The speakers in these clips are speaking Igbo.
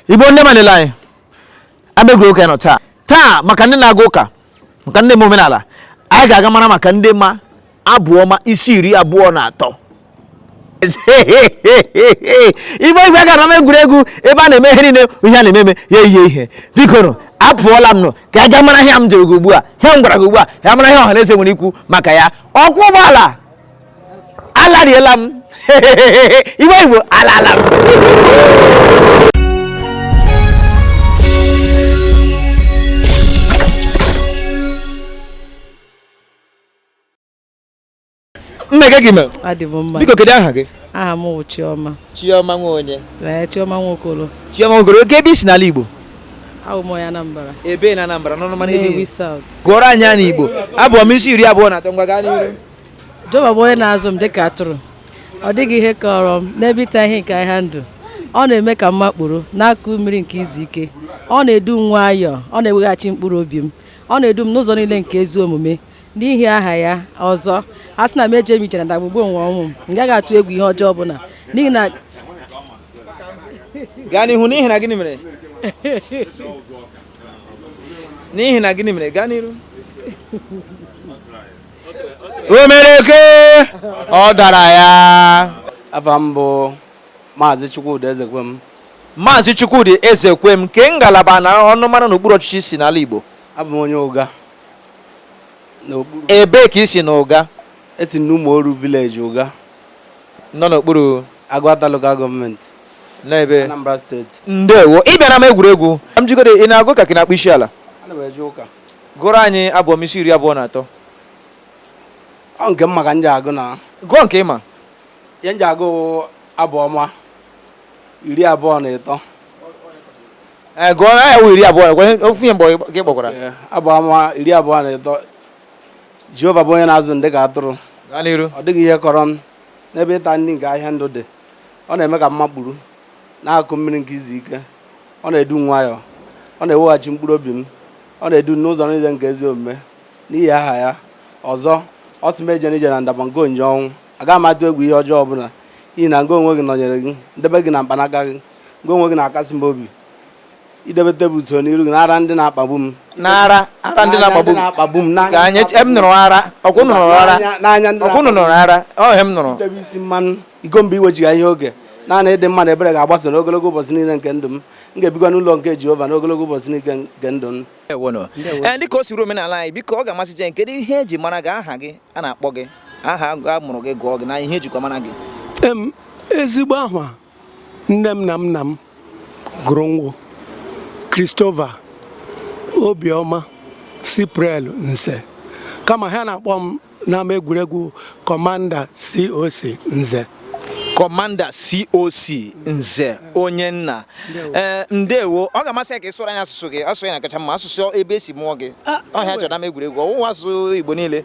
igbo ndị ọma niile anyị abegoro ụka nọ taa taa maka ndị na-aga ụka maka ndị ma omenala anyị ga-aga mara maka ndị ma abụ ọma isi iri abụọ na atọ igbe igwe gara m egwuregwu ebe a na-eme ihe niile ihe a na-eme eme ya eyie ihe biko nụ apụọla m nụ ka a ga mara ihe m jụrụ gị ugbu a ihe m gwara gị ugbu a ya mara ihe ọha na eze nwere ikwu maka ya ọkwọ ụgbọala alariela m iwe igbo alala m nne kee ka ị mere adị m mma biko kedu aha gị aha m bụ chioma chioma nwa onye ee chioma nwokolo chioma nwokolo okay ebee i si n'ala igbo awụ m onye anambra ebee na anambra n'ọnụmara ebee Nnewi South gụọrọ anyị ya n'igbo abụ ọma isi iri abụọ na atọ ngwa gaa n'iru Jehova bụ onye na-azụ m dịka atụrụ ọ dịghị ihe kọrọ m n'ebe ịta ihe nke ahịhịa ndụ ọ na-eme ka m makpuru n'akụkụ mmiri nke izu ike ọ na-edu m nwayọọ ọ na-eweghachi mkpụrụ obi m ọ na-edu m n'ụzọ niile nke ezi omume n'ihi aha ya ọzọ a sị na m eje m ije na ndagwurugwu onwe ọnwụ m m gaghị atụ egwu ihe ọjọọ ọbụla n'ihi na gaa n'ihu n'ihi na gịnị mere n'ihi na gịnị mere gaa n'iru omereke ọ dara ya afa m bụ maazị chukwudi ezekwem maazị chukwudi ezekwem kee ngalaba na ọnụmara n'okpuru ọchịchị i si n'ala igbo abụ m onye ụga ebee ka i si na ụga esi n'ụmụoru village ụga nọ n'okpuru agụata local government n'ebe anambra state ndewo ị bịara m egwuregwu m jụgodu ị na-aga ụka ka ị na-akpọ isi ala Gụọrọ anyị abụ ọma isi iri abụọ na atọ. Ọ nke m ma ka m ji agụ na. Gụọ nke ị ma. Ihe m ji agụ abụ ọma iri abụọ na ịtọ. Ee, gụọ na ya wụ iri abụọ gwa ihe- ofu ihe mgbe gị kpọkwara. Ee, Abụ ọma iri abụọ na ịtọ. Jehova bụ onye na-azụ m dị ka atụrụ. Gaa n'iru. Ọ dịghị ihe kọrọ m n'ebe ịta nni nke ahịhịa ndụ dị. Ọ na-eme ka m makpuru. n'akụkụ mmiri nke izu ike ọ na-edu m nwayọọ ọ na-eweghachi mkpụrụ obi m ọ na-edu m n'ụzọ niile nke ezi omume n'ihi aha ya ọzọ ọ sị m eje m ije na ndaba nke onyinyo ọnwụ agaghị m atụ egwu ihe ọjọọ ọbụla n'ihi na ngị onwe gị nọnyere m ndele gị na mkpanaka gị ngị onwe gị na-akasi m obi ị debe tebụl usoro n'iru gị n'ara ndị na-akpagbu m n'ara ara ndị na-akpagbu m na-akpagbu m ka anyị em nụrụ ara ọkwụ nụrụ ara n'anya ndị ọkwụ nụrụ ara ọ ihe m nụrụ na-etebe isi mmanụ iko m bụ inwebiga ihe oke naanị ịdị mma na ebere ga-agbaso n'ogologo ụbọchị niile nke ndụ m m ga-ebikwa n'ụlọ nke Jehova n'ogologo ụbọchị niile nke ndụ m ee dịka o siri omenala anyị biko ọ ga-amasị anyị kedu ihe eji mara gị aha gị a na-akpọ gị aha a mụrụ gị gụọ gị na ihe ejikwa mara gị ezigbo aha nne m na nna m gụrụ m wụ Christopher Obioma Cypriel Nze kama ha na-akpọ m n'ama egwuregwu kọmanda COC Nze kọmanda coc nze onye nna ee eh, ndewo ọ ga-amasị ya ka ị sụrụ anyị asụsụ gị asụsụ na-akacha mma asụsụ ebe esi mụọ gị ọ ihe a chọrọ n'ama egwuregwu ọwụwa asụsụ igbo niile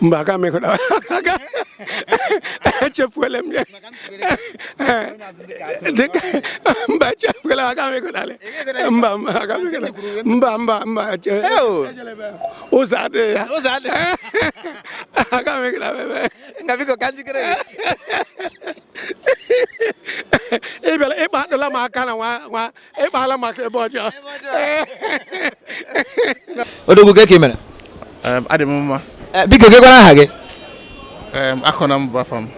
mba aga m ịgụta echefuola m ya dịka mba echefuola aga m ịgụtali mba mba aga m ịgụtali mba mba mba ụzọ adịghị ya ụzọ adịghị aga m ịgụta bebe nga biko ka njikere ị bịara ị kpadụla m aka na nwa ị kpala m aka ebe ọjọọ odogwu kee ka ị mere adị m mma Eh, biko kee kwanụ aha gị Akọnam bụ afa m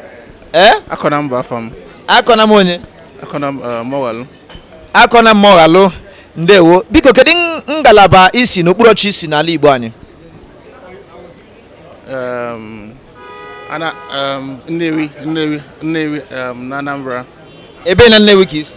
ee Akọnam bụ afa m Akọnam onye Akọnam Mọghalụ Akọnam Mọghalụ ndewo biko kedu n- ngalaba i si n'okpuru ọchịchị i si n'ala igbo anyị um, ana um, Nnewi Nnewi Nnewi um, na Anambra ebe na nnewi ka i si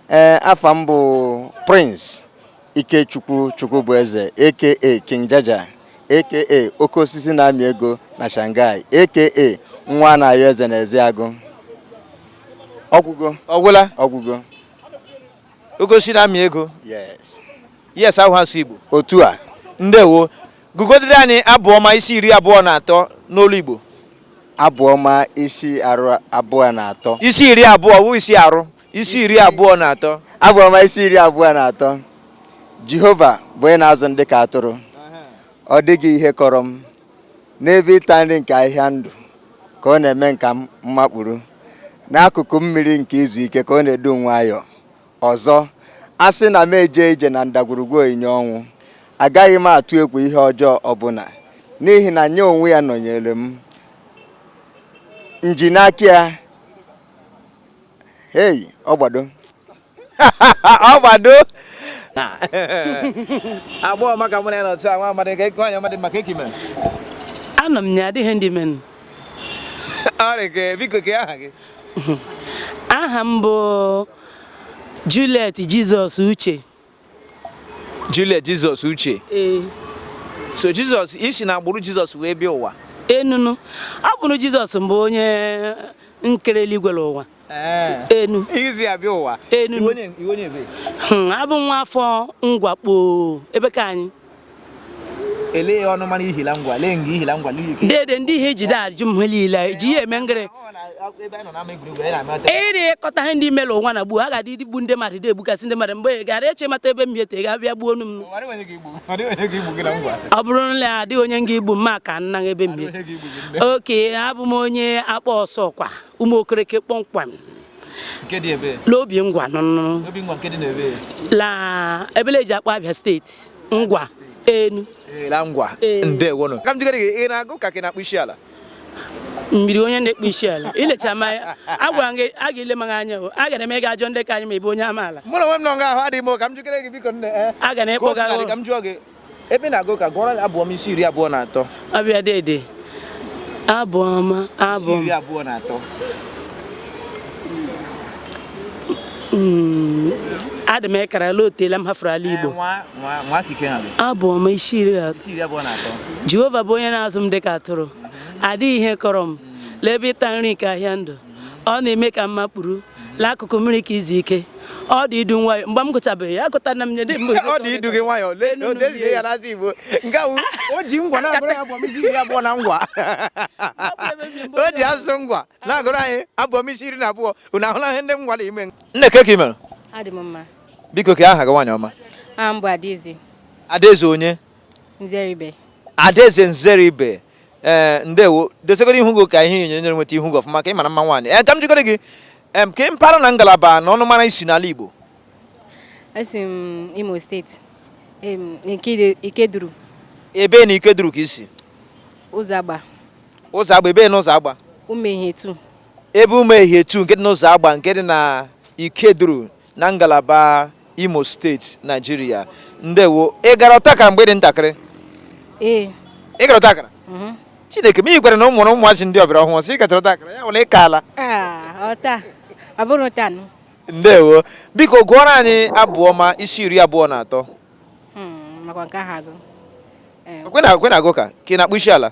ee afa m bụ Prince Ikechukwu Chukwubueze aka King Jaja aka oke osisi na-amị ego na Shanghai aka nwa na-ayọ eze na Ezeagụ ọgwụgo ọgwụla ọgwụgo oke osisi na-amị ego yes yes ahụ asụ Igbo otu a ndewo gụgodere anyị abụ ọma isi iri abụọ na atọ n'olu Igbo abụ ọma isi iri abụọ na atọ isi iri abụọ wụ isi arụ isi iri abụọ na atọ abụ ọma isi iri abụọ na atọ jehova bụ onye na-azụ m dị ka atụrụ ọ dịghị ihe kọrọ m n'ebe ịta nri nke ahịhịa ndụ ka ọ na-eme m ka m makpuru n'akụkụ mmiri nke izu ike ka ọ na-edu nwayọọ ọzọ a sị na m eje ije na ndagwurugwu onyinyo ọnwụ agaghị m atụ egwu ihe ọjọọ ọbụla n'ihi na nya onwe ya nọnyere m nji n'aka ya hey ọgbado ọgbado agbọghọ ọma ka mụ na ya nọtụ nwa amadị ka ịkụ anya amadị mma kee ka ị mere anọ m ya adịghị ndị menụ ọrịa biko kee aha gị aha m bụ Juliet Jizọs Uche Juliet Jizọs Uche ee so Jizọs i si na agbụrụ Jizọs wee bịa ụwa enunu agbụrụ Jizọs mbụ onye nkere eluigwe na ụwa enu izi ya bịa ụwa Enu. Ị wụ onye- ị wụ onye ebe? Hmm, abụ nwa afọ Ngwa kpọọ ebe ka anyị Ele ọnụmara i hi la Ngwa, lee nga i hi la Ngwa l'ike. Dede ndị ihe i jide ajụ m niile ji ya eme ngịrị. Ịrị ịkọta ihe ndị mere ụwa na gbuo a ga-adị igbu ndị mmadụ dị egbukasị ndị mmadụ mgbe gara eche mata ebe m yete ga-abịa gbuo nụ m. Ọ bụrụ na adịghị onye nga igbu mma ka nna ebe m Oke abụ m onye Akpaa Ọsọkwa Ụmụokereke kpọmkwem. l'Obingwa la ebe le e ji akpọ Abia steeti ngwa enu ka m jikere gị ị na-aga ụka ka ị na-akpọ isi ala m yiri onye na-akpọ isi ala i lecha m anya agwara m gị a ga-ele m anya o a gara m ị ga-ajụ ndị ka anyị ma ebe onye amaala mụ na onwe m nọ nga ahụ adịghị m ka m jikere gị biko nne eh. a ga na-ekpọga ka m jụọ gị ebe ị na-aga ụka gụọrọ anyị abụ ọma isi iri abụọ na atọ a bịa dede abụ ọma abụ isi iri abụọ na atọ mm, adị m ekara la o teela m hafụrụ ala igbo abụ ọma isi iri abụọ na atọ jehova bụ onye na-azụ m dịka atụrụ adịghị ihe kọrọ m l'ebe ịta nri nke ahịhịa ndụ ọ na-eme ka m makpuru l'akụkụ mmiri ke izu ike ọ dị idu m nwayọ mgbe m gụtabeghị ya gụta na m nye mgbe ọ dị idu gị nwayọ lee ya n'azị igbo nke ahụ o ji ngwa na-agụrụ ya abụ ọma isi iri abụọ na ngwa o ji asụsụ ngwa na-agụrụ anyị abụ ọma isi iri na abụọ unu ahụla ihe ndị ngwa na-eme nne ka ị mere biko kee aha gị nwaanyị ọma adaeze adaeze onye Nzeribe. Adaeze Nzeribe ee eh, ndewo dozigodi ihu gị ka ihe onyonyo nweta ihu gị ọfụma ka ị mara mma nwaanyị ee eh, ka m jikọrọ gị kee mpaghara na ngalaba na ọnụmara i si n'ala Igbo esi m Imo steeti Ikeduru ebe na Ikeduru ka i si Ụzọagba Ụzọagba ebe na Ụzọagba Umehietu ebe Umehietu nke dị n'Ụzọagba nke dị na Ikeduru na ngalaba Imo steeti Naijiria ndewo ị gara ọtakara mgbe ị dị ntakịrị ee ị gara ọtakara mhm. Chineke m ị gwara na ụmụ na ụmụazị ndị ọbịara ọhụrụ sị ị gatara ọtakara ya wụla ịka ala ah, ọta ọ bụrụ tanụ ndewo biko gụọrọ anyị abụ ọma isi iri abụọ na atọ hmm, makwa nke ahụ agụ Eh, kwa ị na-aga ụka ka ị na-akpọ isi ala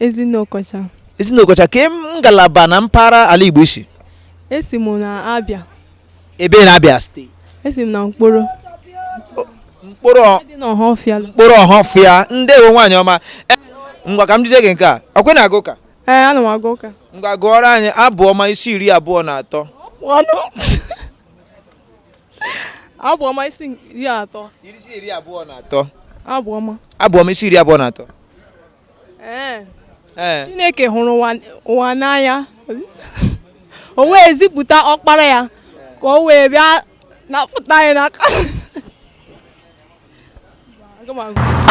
Ezinne Okocha. Ezinne Okocha kee ngalaba na mpaghara ala Igbo i si. Esi m na Abia. Ebe na Abia steeti. Esi m na Nkporo. Nkporo Ọhafịa. Nkporo Ọhafịa ndewo nwaanyị ọma. E, ngwa ka m jụzie gị nke a. Ọ kwa ị na-aga ụka? Ee, ana m aga ụka. Ngwa gụọrọ anyị abụ ọma isi iri abụọ na atọ. abụọma isi iri atọ isi iri abụọ na atọ abụọma abụọma isi iri abụọ na atọ ee ee chineke hụrụ ụwa- ụwa n'anya o wee zipụta ọkpara ya ka o wee bịa napụta anyị n'aka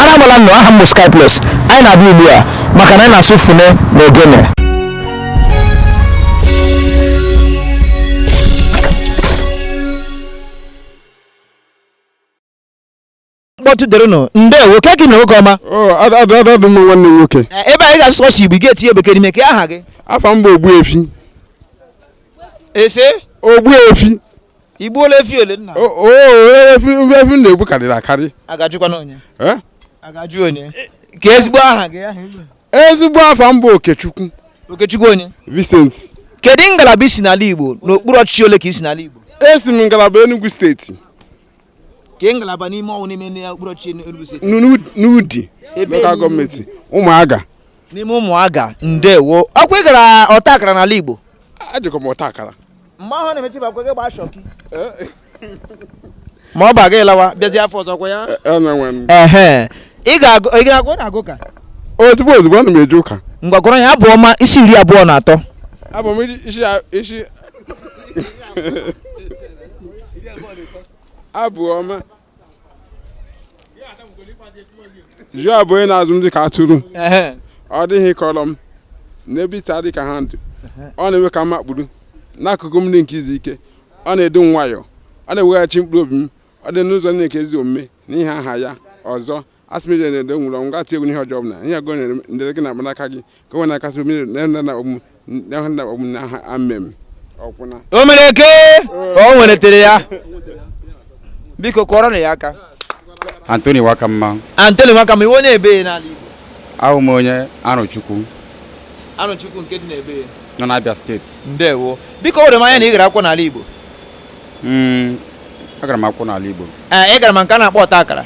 Arabala nọ aha m bụ Sky Plus anyị na-abịa ugbu a maka na anyị na-asụ fune na ogene mkpọtụ dịrịnụ ndewo kee ka ị mere nwoke ọma adị m mma nwanne m nwoke Eh, ebe anyị ga-asụ sọsọ igbo ị ga-etinye bekee n'ime kee aha gị afa m bụ ogbuefi ị sị ogbuefi igbuola efi ole nna O- o efi efi m na-egbu karịrị akarị agajụkwana onye Eh? agajụ onye kee ezigbo aha gị aha igbo ezigbo afa m bụ okechukwu okechukwu onye vincent kedu ngalaba i si n'ala igbo n'okpuru ọchịchị ole ka i si n'ala igbo esi m ngalaba enugu steeti kee ngalaba n'ime ọnwụ n'ime ndị okpuru ọchịchị Enugu steeti n'U- n'udi Ebe lokal n'Udi. gọọmenti ụmụaga n'ime ụmụaga ndewo ọkwa ị gara ọta akara n'ala igbo ajụkọ m ọta akara mgbe ahụ na-emechi bakwa gị gbaa shọki ma ọ baga ị lawa bịazi afọ ọzọ ọ kwa ya ehe ị ga-agụ na-agụ ka ozugbo ozugbo ana m eje ụka ngwa gụrụ ya abụ ọma isi iri abụọ na atọ abụ ọma isi isi abụ ọma Jehova bụ onye na-azụ m dịka atụrụ ọ dịghị ihe kọrọ m n'ebe ịta nri nke ahịhịa ndụ ọ na-eme ka m makpuru n'akụkụ mmiri nke izu ike ọ na-edu m nwayọọ ọ na-eweghachi mkpụrụ obi m o du m n'ụzọ niile nke ezi omume n'ihi aha ya ọzọ a sị m jee na ndagwurugwu ọnwụ gaghị atụ egwu ihe ọjọọ n'ihi ọ gị nọnyere m ndele gị na mkpanaka gị ha onwe ha na-akasị m obi na ndị na ọgwụ ndị ahụ na ọgwụ na ha amen ọkwụna o mere ka o nwetere ya biko kụọrọnụ ya aka Anthony Nwakamma Anthony Nwakamma ị wụ onye ebee n'ala igbo awụ m onye Arọchukwu Arọchukwu nke dị n'ebee nọ n'Abia steeti ndewo biko ewere m ya na ị gara akwụkwọ n'ala igbo Mm, agara m akwụkwọ n'ala Igbo ee ị gara ma nke a na-akpọ ọta akara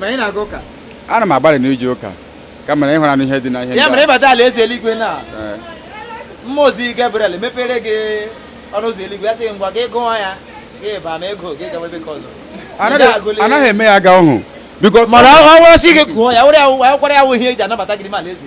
ma ị na-aga ụka ana m agbalị n'ije ụka kama ịhụra n'ihe dị na ihe ya mere ị bata ala eze eluigwe na mmụọ ozi Gabriel mepere gị ọnụ ụzọ eluigwe ya sị ngwa gị gụọ ya gị baa ma ị gụghị gawa ebe nke ọzọ anaghị eme ya aga ọhụụ mana ọ bụrụ sị gị gụọ ya were ya ọ kwa ya wụ ihe e ji anabata gị n'ime ala eze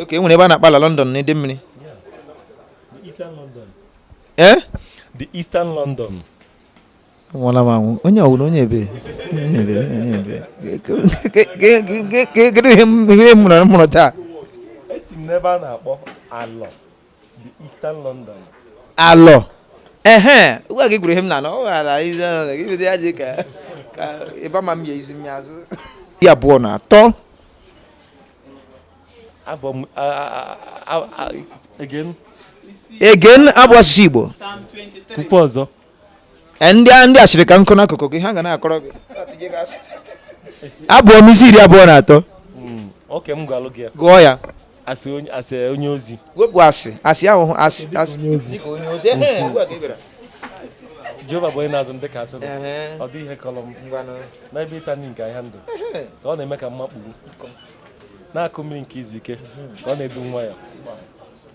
oke e nwere ebe a na-akpọ alọ London na Idemili eh? the eastern London nwụla m anwụ onye ọwụrụ onye ebee kedu ihe mụrụ taa esi m n'ebe a na-akpọ alọ the eastern london alọ ehe ngwa gị gwuru ihe m na ọ ghara izi ọnụ na gị bido ya dị ka ka ịba ma m ya izi m ya azụ iri abụọ na atọ abụ ọma a- a- a- again again abụghị asụsụ igbo Psalm 23. kwukwaa ọzọ e, ndị a ndị asịrị ka nọkọ n'akụkụ gị ha ga na-akọrọ gị abụ ọma isi iri abụọ na atọ hmm, oke m gwalụ gị ya gụọ ya as onye as onye ozi wepụ as as ahụ a sị as onye ozi dịka onye ozi ehe ugbu a ka ị bịara jehova bụ onye na-azụ m dịka atụrụ Ehe. ọ dịghị ihe kọrọ m ngwanụ n'ebe ịta nri nke ahịhịa ndụ ka ọ na-eme ka m makpuru n'akụkụ mmiri nke izu ike ka ọ na-edu m nwayọ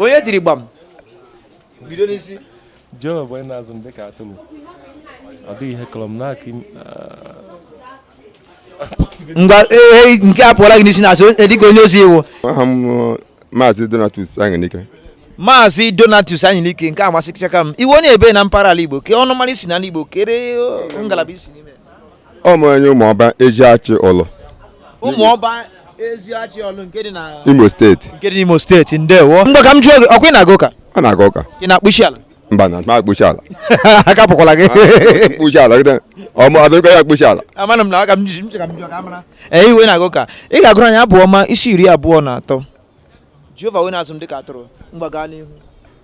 onye tiri gbam bido n'isi jehova bụ onye na-azụ m dịka atụrụ ọ dịghị ihe kọrọ m n'aka ngwa e, nke a apụọla gị n'isi na-asị e, dịka onye ozi ị wụ aha m uh, maazị donatus anyịnike maazị donatus anyịnike nke a amasịchaka m ị wụ onye ebee na mpaghara ala igbo kee ọnụmara i si n'ala igbo kee uh, ngalaba i si n'ime a wụ m onye ụmụọba eziachi ọlụ ụmụọba eziachi ọlụ nke dị na imo steeti nke dị n'imo steeti ndewo ngwa ka m jụọ gị ọkwa ị na-aga ụka ọ na-aga ụka ị na-akpọ isi ala mba ana m akpọ isi ala aka pụkwala gị akpọ isi ala gịda ọmụ adịrịkọ ya akpọ isi ala amana m na aka m ji m che ka m jụọ ka a mara ee ebe ị na-aga ụka ị ga-agụrụ anyị abụ ọma isi iri abụọ na atọ jehova wụ onye na-azụ m dịka atụrụ ngwa gaa n'ihu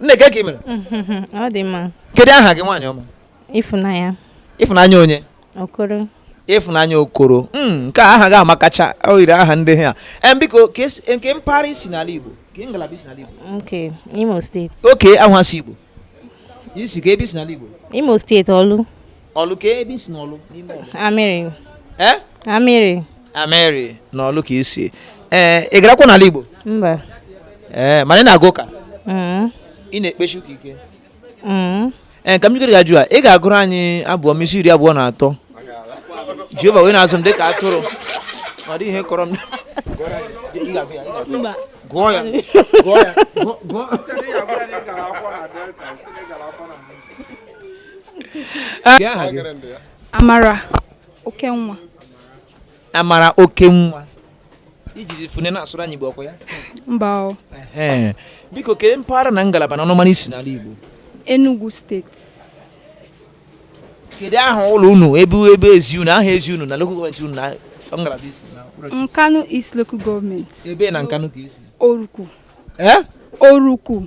nne kee ka ị mere ọ dị mma kedu aha gị nwaanyị ọma ịfụnanya ịfụnanya onye okoro ịfụnanya okoro hmm, nke a aha gị amakacha o yiri aha ndị ha em biko ka esi- kee mpaghara i si n'ala igbo kee ngalaba i si n'ala igbo okay imo steeti okay awụghị asụsụ igbo i si kee ebe i si n'ala igbo imo steeti ọlụ ọlụ kee ebe i si n'ọlụ n'ime ọlụ amịrị eh? amịrị amịrị n'ọlụ ka i si ee eh, ị garakwa n'ala Igbo mba ee eh, mana ị na-aga ụka mm-hmm. ị na-ekpesi ụka ike ee mm-hmm. ka m jikere gị ajụ a ị ga-agụrụ anyị abụ ọma isi iri abụọ na atọ Jehova wụ onye na-azụ m dị ka atụrụ ọ dịghị ihe kọrọ m gụọ ya gụọ ya Amara Okenwa. Amara Okenwa. I ji fọne na-asụrụ anyị Igbo ọkwa ya? Mba o. Biko kee mpaghara na ngalaba na ọnụmara i si n'ala Igbo. Enugu steeti. Kedu aha ụlọ unu ebe ebe ezi unu aha ezi unu na local gọọmenti unu na ngalaba i si? Nkanu East local gọọmenti. Ebee na Nkanu ka i si? Oruku. Eh? Oruku.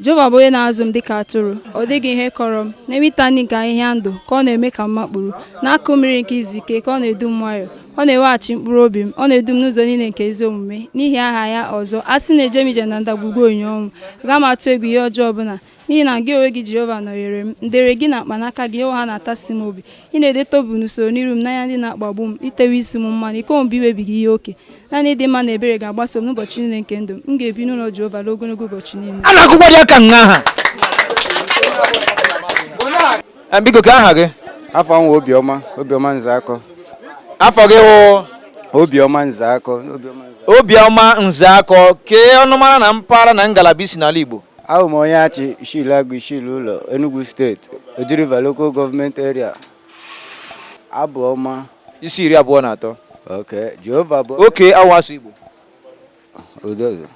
Jehova bụ onye na-azụ m dịka atụrụ ọ dịghị ihe kọrọ m n'ebe ịta nri nke ahịhịa ndụ ka ọ na-eme ka m makpuru n'akụ mmiri nke izu ike ka ọ na-edu m nwayọọ ọ na-eweghachi mkpụrụ obi m ọ na-edu m n'ụzọ niile nke ezi omume n'ihi aha ya ọzọ a sị na eje m ije na ndagwurugwu onyinyo ọnwụ aga m atụ egwu ihe ọjọọ ọbụla n'ihi na gị onwe gị Jehova nọnyere m ndere gị na mkpanaka gị onwe ha na-atasi m obi ị na-edo tebụl n'usoro n'iru m n'anya ndị na-akpagbu m i tewo isi m mmanụ iko m bụ inwebiga ihe oke naanị ịdị mma na ebere ga-agbaso m n'ụbọchị niile nke ndụ m ga-ebi n'ụlọ Jehova ruo ogologo ụbọchị niile a na-akụkwa dị aka nha ha Eh, biko kee aha gị afa m wụ Obiọma Obiọma Nzeakọ afa gị wụ Obiọma Nzeakọ Obiọma Nzeakọ. Obiọma Nzeakọ kee ọnụmara na mpaghara na ngalaba i si n'ala Igbo Abụ m onye Achị Ishi l'agụ Ishi l'ụlọ Enugu steeti Oji River Local Government Area Abụ Ọma isi iri abụọ na atọ oke Jehova bụ oke awa asụ Igbo odozo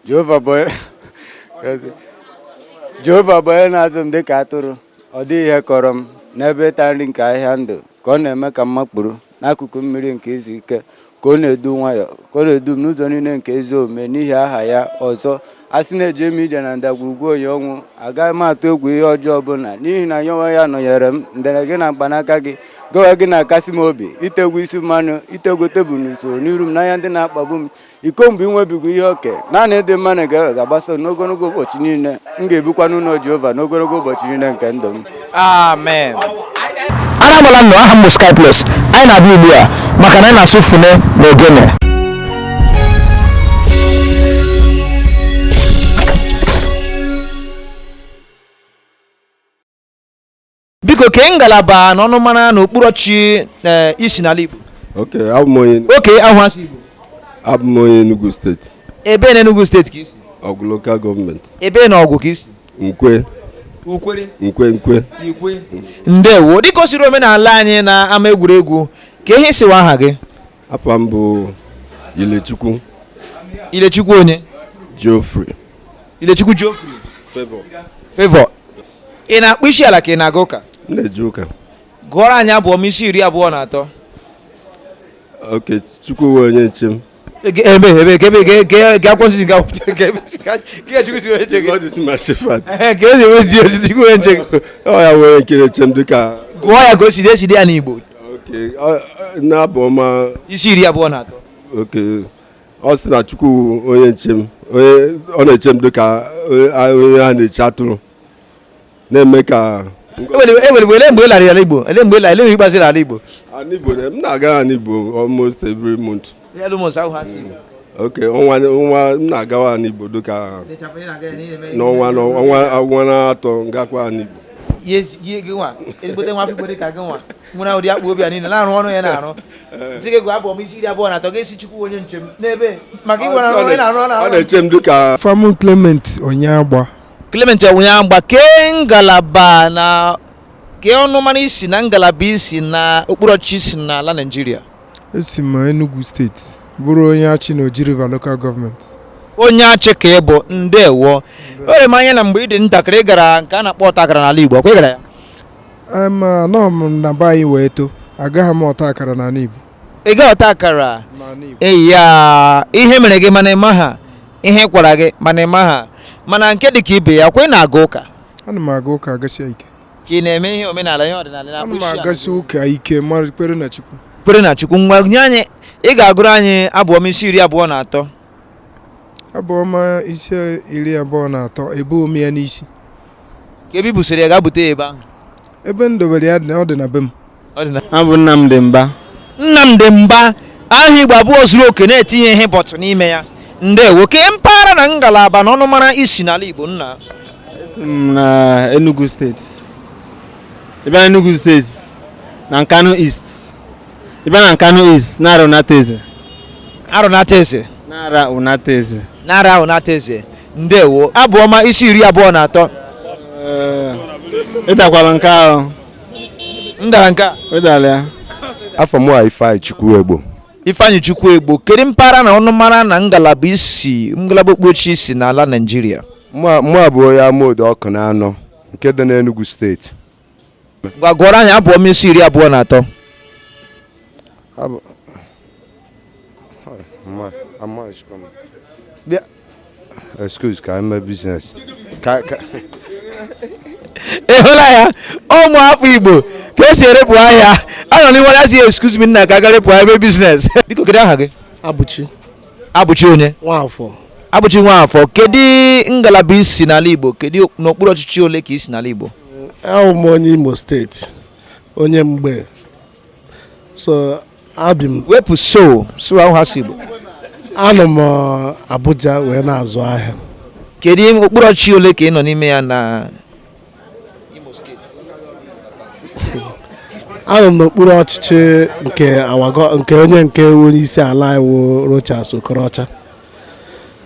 Jehova bụ Jehova bụ onye na-azụ m dịka atụrụ ọ dịghị ihe kọrọ m n'ebe ịta nri nke ahịhịa ndụ ka ọ na-eme ka m makpuru n'akụkụ mmiri nke izu ike ka ọ na-edu nwayọ ka ọ na-edu m n'ụzọ niile nke ezi omume n'ihi aha ya ọzọ a sị na eje m ije na ndagwurugwu onyinyo ọnwụ agaghị m atụ egwu ihe ọjọọ ọbụla n'ihi na ya onwe ya nọnyere m ndere gị na mkpanaka gị gị onwe gị na-akasi m obi i tegwo isi mmanụ i tegwo tebụl n'usoro n'iru m n'anya ndị na-akpagbu m iko m bụ inwebiga ihe oke naanị ịdị mma na ebere ga-agbaso n'ogologo ụbọchị niile m ga-ebikwa n'ụlọ Jehova n'ogologo ụbọchị niile nke ndụ m amen anamala nnọọ aha m bụ Sky Plus anyị na-abịa ugbu a maka na anyị na-asụ fune na ogene biko kee ngalaba na ọnụmara na okpuru ọchịchị eh, i si n'ala Igbo oke abụ m onye oke ahụ asị Igbo abụ m onye Enugu steeti ebee na Enugu steeti ka i si Ọgwụ lokal gọọmenti ebee na Ọgwụ ka i si Nkwe ukwere Nkwe Nkwe ikwe ndewo dịka o siri omenala anyị n'ama egwuregwu kee ihe sị wụ aha gị afa m bụ Ilechukwu Ilechukwu onye Geoffrey Ilechukwu Geoffrey Favour Favour ị na-akpọ isi ala ka ị na-aga ụka na-eje ụka gụọrọ anyị Abụ Ọma isi iri abụọ na atọ oke Chukwu wụ onye nche m ebe ebe ebe ga akwụsị ga ga chukwu si onye nche gị God is my shepherd ka ezi wee ji ojiji chukwu onye nche gị ọ ya wee nke na-eche m dịka gụọ ya ka o si dị e si dee ya n'Igbo oke ọ- ọ- n'Abụ Ọma isi iri abụọ na atọ oke ọ sị na chukwu onye nche m ọ na-eche m dịka onye a na-eche atụrụ na-eme ka enwere mgbe ele mgbe lara ala igbo ele mgbe lara ikpeazụ ala igbo ala igbo m na-aga ala igbo almost every month almost ahụ ha sị okay ọnwa ọnwa m na-agawa ala igbo dịka n'ọnwa n'ọnwa na atọ m gakwa ala igbo ihe gị nwa ezigbote nwa afọ igbo dị ka gị nwa nwere ụdị akpụ obi a niile na-arụ ọrụ ya na-arụ sị gị gụọ abụ ọma isi iri abụọ na atọ ga-asị chukwu onye nche m n'ebe maka ịgwara arụ onye na-arụ ọ na-arụ na-eche m dịka afa mụ clement onyeagba clement onyeagba kee ngalaba na kee ọnụmara i si na ngalaba i si na okpuru ọchịchị i si n'ala naijiria esi m enugu steeti bụrụ onye achị na oji river local government onye achị ka ị bụ ndewo o rere m anya na mgbe ị dị ntakịrị ị gara nke a na-akpọ ọta akara n'ala igbo ọkwa ị gara ya anọghị m na be anyị wee too agaghị m ọta akara n'ala Igbo ị ga ọta akara eya ihe mere gị mana ị maha ihe kwara gị mana ị maha mana nke dị ka ibe ya kwa ị na-aga ụka ana m aga ụka agasia ike ka ị na-eme ihe omenala ihe ọdịnala ana m agasi ụka ike kwere na Chukwu kwere na Chukwu ngwa nye anyị ị ga-agụrụ anyị abụ ọma isi iri abụọ na atọ abụ ọma isi iri abụọ na atọ ebuho m ya n'isi kee ebe i busiri ya gaa bute ya ebe ahụ ebe m dobere ya ọ dị na be m abụ m Nnamdị Mba Nnamdị Mba aha Igbo abụọ zuru oke na-etinye ihe bọtụ n'ime ya ndewo kee mpaghara na ngalaba na ọnụmara i si n'ala Igbo nna esi m na Enugu steeti ebe na Enugu steeti na Nkanu East ebe na Nkanu East Nara Unateze Nara Unateze Nara Unateze Nara Unateze ndewo abụ ọma isi iri abụọ na atọ ị dakwara nke ahụ m dara nke a ị dara ya afa mụ a ifeanyịchukwu egbo ifeanyịchukwu egbo kedu mpaghara na ọnụmara na ngalaba i si ngalaba okpuchi i si n'ala naijiria mụ a bụ onye amodu ọkụnanọ nke dị n'enugu steeti ga-agụrụ anyị abụ ọma isi iri abụọ na atọ excuse ka m mee business ị hụla ya ụmụ afọ igbo ka e si erepụ ahịa a nọ n'ihu ya sị excuse me nna ka m gaa repụ ahịa mee business biko kedu aha gị abụchi abụchi onye nwafọ abụchi nwafọ kedu ngalaba i si n'ala igbo kedu n'okpuru ọchịchị ole ka i si n'ala igbo awụ m onye imo steeti onye mgbe so ebi m wepụ so so ahụ ha si igbo anọ m uh, abuja wee na-azụ ahịa kedu okpuru ọchịchị ole ka ị nọ n'ime ya na imo steeti anọ m n'okpuru ọchịchị nke nke onye nke onye isi ala wụ Rochas Okorocha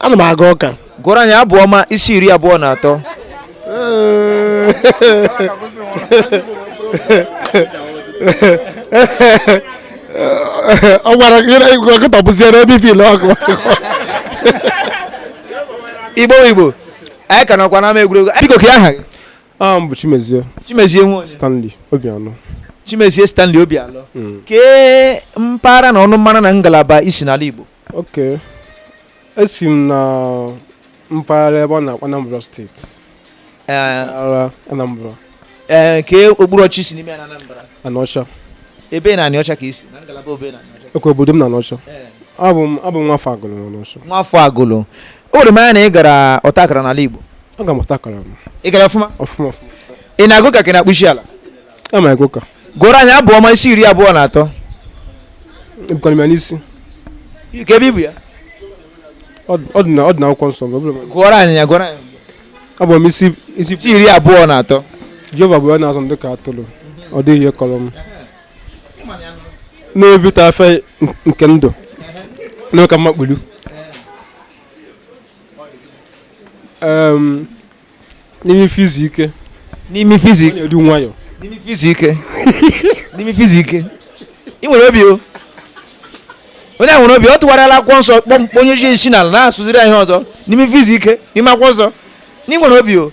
ana m aga ụka gụọrọ anyị abụ ọma isi iri abụọ na atọ ọ gwara nkịta bụziere ebe ife ile ọkụ igbo igbo anyị ka nọkwa n'ama egwuregwu biko kee aha gị aha m bụ chimezie chimezie nwa onye stanley obialọ chimezie stanley obialọ kee mpaghara na ọnụmara na ngalaba i si n'ala igbo okay esi m na mpaghara ebe a na-akpọ Anambra steeti Anambra ee kee okpuru ọchịchị i si n'ime Anambra Anaọcha ebee na Anaọcha ka i si na ngalaba ebee na Anaọcha okay obodo m na Anaọcha abụ m abụ m nwafọ agụlụ na Anaọcha nwafọ agụlụ o were m anya na ị gara ọta akara n'ala Igbo aga m ọta akara m ị gara ọfụma ọfụma ị na-aga ụka ka ị na-akpọ isi ala gụọrọ anyị abụ ọma isi iri abụọ na atọ ebukwana m ya n'isi kee ebe i bu ya ọ dị na akwụkwọ nsọ gụọrọ anyị ya gụọrọ anyị abụ ọma isi isi iri abụọ na atọ jehova bụ onye na-azụ m dịka atụrụ ọ dịghị ihe kọrọ m n'ebe ịta ife nke ndụ na-eme ka m makpuru n'ime ife izu ike n'ime ife izu ike na-edu nwayọ n'ime ife izu ike n'ime ife izu ike ị nwere obi o onye a nwere obi ọ tụgharịala akwụkwọ nsọ kpọmkpọ onye ji isi n'ala na-asụziri anyị ihe ọzọ n'ime ife izu ike n'ime akwụkwọ nsọ na ị nwere obi o